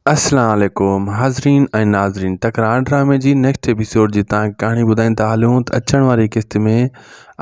اسلام عليڪم حاضرين ۽ ناظرين تڪرار ڊرامي جي نيڪسٽ ايپيسوڊ جي تان ڪهاڻي ٻڌائيندا هلون ته اچڻ واري قسط ۾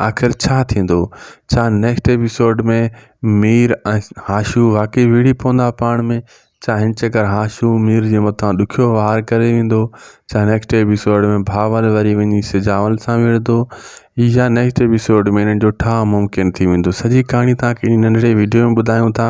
آخر ڇا ٿيندو ڇا نيڪسٽ ايپيسوڊ ۾ مير ۽ هاشو واقعي وڙهي پوندا پاڻ ۾ ڇا هن چڪر هاشو مير جي مٿان ڏکيو وار ڪري ويندو ڇا نيڪسٽ ايپيسوڊ ۾ بهاول وري وڃي سجاول سان وڙهندو يا نيڪسٽ ايپيسوڊ ۾ هنن جو ٺاهه ممڪن ٿي ويندو سڄي ڪهاڻي تان ڪهڙي ننڍڙي وڊيو ۾ ٻڌايون ٿا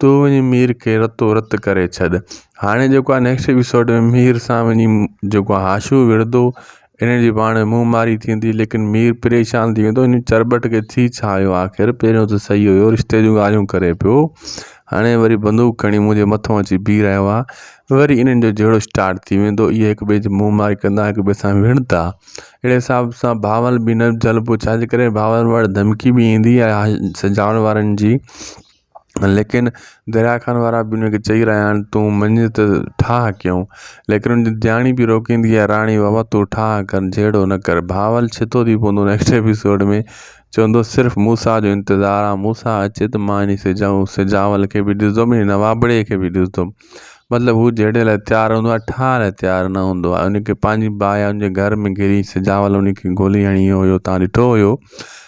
تون وڃي مير کي رتو رت ڪري ڇڏ هاڻي جيڪو آهي نيڪسٽ ايپيسوڊ ۾ مير سان وڃي جيڪو آهي حاشو وڙهندو ان جي پاڻ ۾ منهن ماري ٿيندي ليڪن مير پريشان ٿي ويندو ان چرٻٽ کي ٿي ڇا ويو آخر پهريون ته سهي هيو رشتي جون ڳالهيون ڪري پيو هاڻي وري بندوق کڻي منهنجي مٿو اچي بيهي رهيو آهي وري انهن جو جهيڙو اسٽارٽ ٿي ويندو اهي هڪ ٻئي جي منهن ماري ڪندا هڪ ٻئي سان وڙهندا اهڙي حساب سان بهاول به نه جهلبو ڇاجي ڪري بهاول وٽ ڌمڪي به ايندي آهي سجاول وارن جي ليڪن دريا خان وارا بي هن کي چئي رهيا آهن تون مڃ ته ٺاهه ڪيون ليڪن هن جي ڌياڻي بي روڪيندي آهي راڻي بابا تون ٺاهه ڪر جهيڙو نه ڪر ڀانول ڇتو ٿي پوندو نيڪسٽ ايپيسوڊ ۾ چوندو صرف موسيٰ جو انتظار آهي موسيٰ اچي ته مان هن سجاء سجاول کي بي ڏسندم هن نوابڙي کي بي ڏسندم مطلب هو جهيڙي لاء تيار هوندو آهي ٺاهه لاء تيار نه هوندو آهي هن کي پنهنجي باهه هن جي گهر ۾ گهري سجاول هن کي گولي هڻي ويو هيو تان ڏٺو هيو